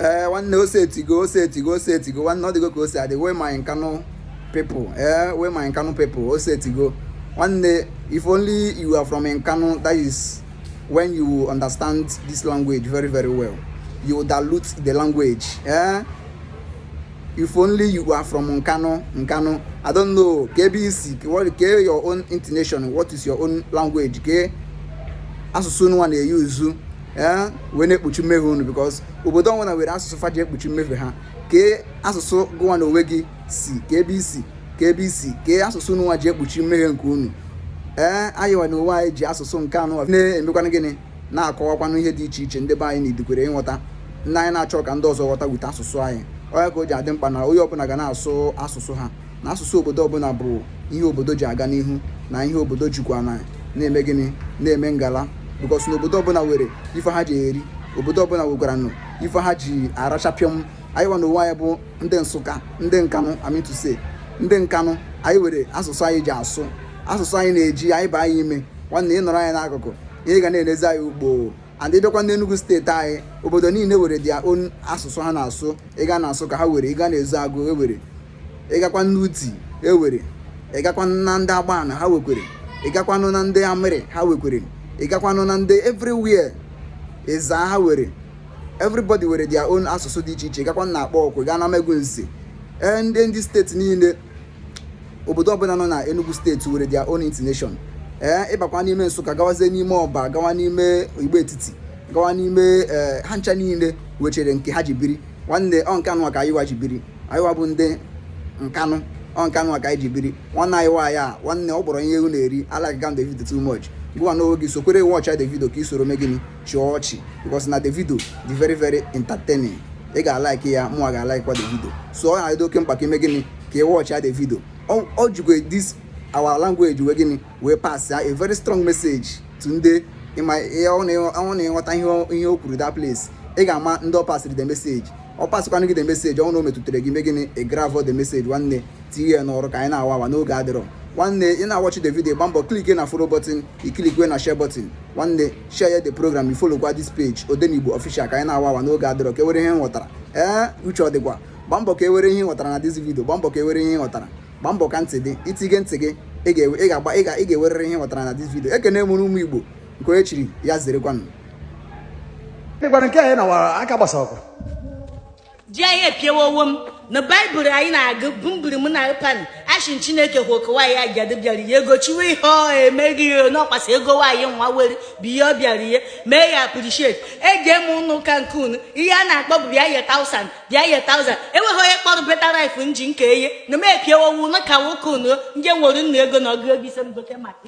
ee eh, nwanne o setigo o setigo o setigo nwanne ọ dịgo ka o si adị where my nkanụ people ee eh, where my nkanụ people o setigo nwanne if only you are from nkanụ that is when you understand this language very very well you dilute the language ee eh? if only you are from nkanụ nkanụ i don't know kee ebe i si what kee your own intonation what is your own language kee asụsụ unuwa na-eyuzu ee wee na-ekpuchi mmehie unu because obodo ọwụna were asụsụ fa ji ekpuchi mmehie ha kee asụsụ gụwa na onwe gị si kee ebe i si kee ebe i si kee asụsụ unuwa ji ekpuchi mmehie nke unu ee anyịwa na onwe anyị ji asụsụ nkanụ na-emekwanụ gịnị na-akọwakwanụ ihe dị iche iche ndị be anyị na-edikwere ịghọta ndị anyị na-achọ ka ndị ọzọ ghọta with asụsụ anyị ọ nya ka o ji adị mkpa na onye ọbụla ga na-asụ asụsụ ha na asụsụ obodo ọbụla bụ ihe obodo ji aga n'ihu na ihe obodo jikwa na na-eme gịnị na-eme ngala because na obodo ọbụla were ife ha ji eri obodo ọbụla wekwaranụ ife ha ji aracha pịam anyịwa na onwe anyị bụ ndị nsụka ndị nkanụ I mean to say ndị nkanụ anyị were asụsụ anyị ji asụ asụsụ anyị na-eji anyị baa anyị ime nwanne ị nọrọ anyị n'akụkụ ihe ga na-enezi anyị ugbo and ịbịakwa n'Enugu steeti anyị obodo niile were their own asụsụ ha na-asụ ịga na Nsụka ha were ịga n'Ezeagụ ewere ịgakwa n'Udi ewere ịgakwa na ndị Agbani ha wekwere ịgakwanụ na ndị Amurri ha wekwere ịgakwanụ na ndị everywhere Ezza ha were everybody were their own asụsụ dị iche iche ịgakwa na Akpugo gaa n'Amagunze eh, ndị ndị steeti niile obodo ọbụla nọ na Enugu steeti were their own intonation ee eh, ịbakwa n'ime Nsụka gawazie n'ime Ọba gawa n'ime Igbo Etiti gawa n'ime eh, ha ncha niile wechere nke ha ji biri nwanne ọ nke anụwa ka anyị wa ji biri anyị wa bụ ndị nkanụ ọ nke anụwa ka anyị ji biri nwanne anyị waa ya nwanne ọ bụrọ ihe ewu na-eri alaikịga m the video too much gụwa n'onwe gị sokwere wọchịa the video ka ị soro mee gịnị chịa ọchị because na the video dị very very entertaining ị ga-alaiki ya mụnwa ga-alaikwa the video so ọ na-adị oke mkpa ka i mee gịnị ka ị wọchịa the video ọ jikwa this our language mee gịnị wee passịa a very strong message to ndị ị ma ọ na ị ghọta ihe o kwuru that place ị ga-ama ndị ọ pasịrị the message ọ pasịkwanụ gị the message ọ na o metụtara gị i mee gịnị ị grabụọ the message nwanne tinye ya n'ọrụ ka anyị na-awa awa n'oge adịrọ nwanne ị na-awọchi the video gba mbọ klike na follow button i klikwe na share button nwanne share the program ị folokwa this page odenigbo official ka anyị na-awa awa n'oge adịrọ ka ewere ihe ị ghọtara ee uche ọ dịkwa gba mbọ ka ewere ihe ị ghọtara na this video gba mbọ ka ewere ihe ị ghọtara gba mbọ ka ntị dị itige ntị gị ị ga-agba ị ga-ewerere ihe ị ghọtara na this video ekene m unu ụmụ igbo nke onye chiri ya zerekwanụ dịkwara nke anyị na aka gbasara ọkụ ji anyị epiewa owo m na baịbụl anyị na-agụ bụ mbiri m na pan ashin chineke hụ okowa ya ajadu bịara ye ego chiwe ihe ọ emeghị ya n'ọkwasị ego nwaanyị nwa were bụ ihe ọ bịara ye mee ya appreciate e jeme n'ụka nke unu ihe a na-akpọ bụ bịa ye tausan bịa ye tausan enweghị onye kpọrọ better life nji nke eye na m epiewa owo na ka nwoke unu nje nwere nnu ego na ọgụ ego ise m gote maka